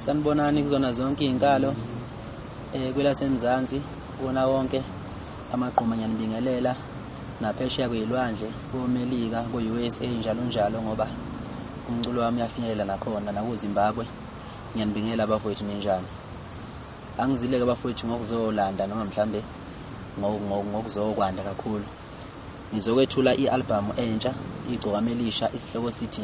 Sanibonani kuzona zonke izinkalo eh kwelasemzansi kona wonke amagqoma nyanibingelela naphesheya kuyilwandle komelika ku-usa njalo njalo ngoba umculo wami uyafinyelela nakhona nakuzimbabwe ngiyanibingelela abafowethu ninjani angizileke abafowethu ngokuzolanda noma mhlambe ngokuzokwanda kakhulu ngizokwethula i-albhamu entsha igcokama elisha isihloko sithi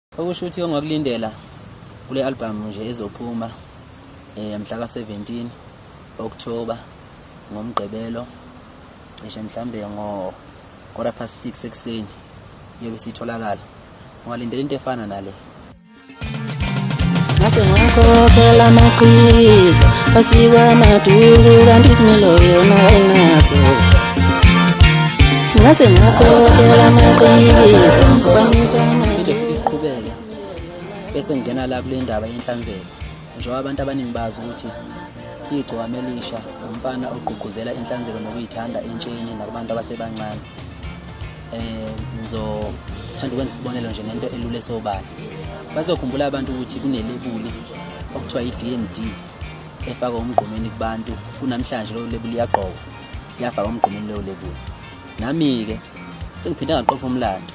Okusho ukuthi ongakulindela kule albhamu nje ezophuma eh, mhla ka-17 October ngomgqibelo cishe mhlambe ngo quarter past 6 ekuseni yobe sitholakala ungalindela into efana nale ngase ngakhokhela amaqhiza asikwa maduku kanti isimilo yona ayinaso ngase ngakhokhela amaqhiza Phinde futhi siqhubeke bese ngingena la kule ndaba yenhlanzeko njengoba abantu abaningi bazi ukuthi igcokama elisha umfana ogqugquzela inhlanzeko nokuyithanda entsheni nakubantu abasebancane um ngizothanda ukwenza isibonelo nje nento elula esobala bazokhumbula abantu ukuthi kunelebuli okuthiwa i-d m d efaka umgqomeni kubantu kunamhlanje lowo lebuli yagqoka yafaka umgqomeni lowo lebuli nami-ke sengiphinde ngaqopha umlando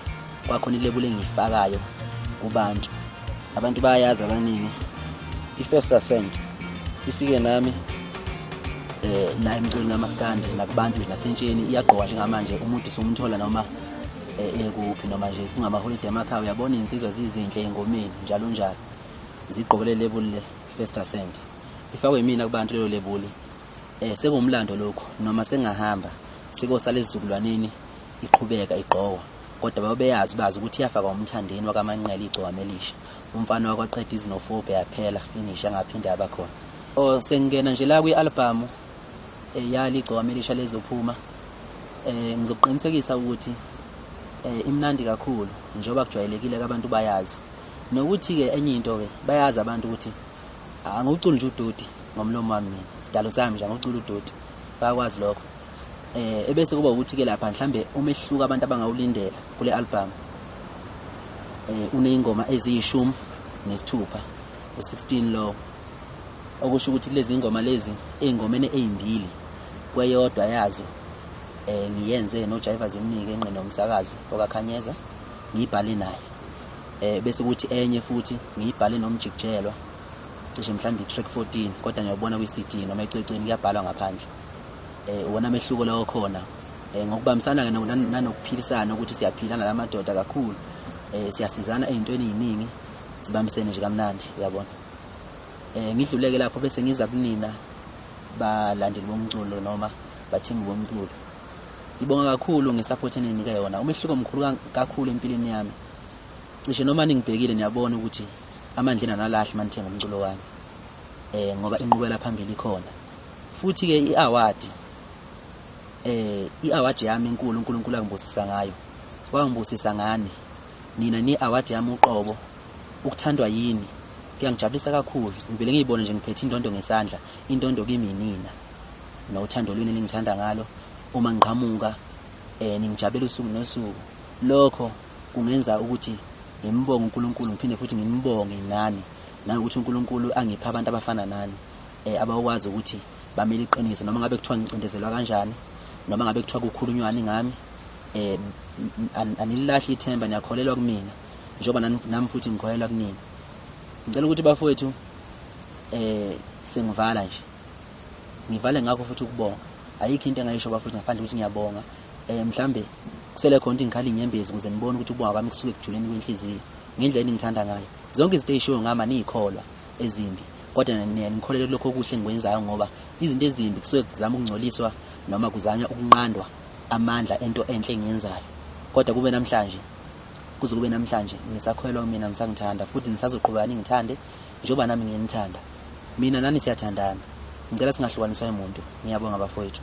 kwakhona ilebula engiyifakayo kubantu abantu bayayazi abaningi i-first ascent ifike nami eh naye emculweni kamaskandi nakubantu nje nasentsheni iyagqoka njengamanje umuntu somthola noma eh, ekuphi noma nje kungamaholide emakhaya uyabona iy'nsizwa zizinhle engomeni njalo njalo zigqokele lebuli le first ascent ifakwe yimina kubantu leyo lebuli um eh, sekuwumlando lokhu noma sengahamba sikosala ezizukulwaneni iqhubeka igqokwa kodwa babeyazi bazi ukuthi iyafakwa umthandeni wakamanqele igcokama elisha umfana wakwaqeda izinofobe yaphela finish angaphinde abakhona o oh, sengingena nje la kwi-albhamu um eh, yali igcokama elisha lezophuma um eh, ngizokuqinisekisa ukuthi um imnandi kakhulu njengoba kujwayelekile kabantu bayazi nokuthi-ke enye into-ke bayazi abantu ukuthi angikuculi nje udoti ngomlomo wami mina sidalo sami nje angikuculi udoti bayakwazi lokho eh ebese kuba ukuthi ke lapha mhlambe umehluko abantu abangawulindela kule album eh uneyingoma eziyishumi nesithupha u16 lo okusho ukuthi kulezi ingoma lezi eingomene ezimbili kweyodwa yazo eh ngiyenze no Jaiva zimnike enqine umsakazi okakhanyeza ngibhale naye eh bese ukuthi enye futhi ngiyibhale nomjikjelwa cishe mhlawumbe i-track 14 kodwa ngiyabona kwi-CD noma ecwecweni kuyabhalwa ngaphandle eh wona mehluko lawo khona eh ngokubambisana ke nanokuphilisana ukuthi siyaphila nalamadoda kakhulu eh siyasizana ezintweni eziningi sibambisene nje kamnandi uyabona eh ngidluleke lapho bese ngiza kunina balandeli bomculo noma bathengi bomculo ngibonga kakhulu ngesupport eninike yona umehluko omkhulu kakhulu empilweni yami cishe noma ningibhekile niyabona ukuthi amandla enanalahle manithenga umculo wami eh ngoba inqubela phambili khona futhi ke iaward eh iaward yami enkulu uNkulunkulu angibusisa ngayo wangibusisa ngani nina ni award yami uqobo ukuthandwa yini kuyangijabulisa kakhulu ngivele ngiyibone nje ngiphethe indondo ngesandla indondo kimi nina nothando lwini ningithanda ngalo uma ngiqhamuka eh ningijabela usuku nosuku lokho kungenza ukuthi ngimbonge uNkulunkulu ngiphinde futhi ngimbonge nani nangokuthi uNkulunkulu angipha abantu abafana nani eh, abakwazi ukuthi bamele iqiniso noma ngabe kuthiwa ngicindezelwa kanjani noma ngabe kuthiwa kukhulunywani ngami eh anililahli ithemba niyakholelwa kumina njengoba nami futhi ngikholelwa kunina ngicela ukuthi bafowethu eh sengivala nje ngivale ngakho futhi ukubonga ayikho into engayisho bafowethu ngaphandle ukuthi ngiyabonga eh mhlambe kusele khona ukuthi ngikhale inyembezi ukuze nibone ukuthi ubonga kwami kusuke kujuleni kwenhliziyo ngendlela eningithanda ngayo zonke izinto ezishiwo ngama niyikholwa ezimbi kodwa niyaye nikholelwe kulokho okuhle engikwenzayo ngoba izinto ezimbi kusuke kuzama ukungcoliswa noma kuzanywa ukunqandwa amandla ento enhle engiyenzayo kodwa kube namhlanje kuze kube namhlanje ngisakholelwa kumina ngisangithanda futhi nisazoqhubeka ningithande njengoba nami nginithanda mina nani siyathandana ngicela singahlukaniswa emuntu ngiyabonga bafowethu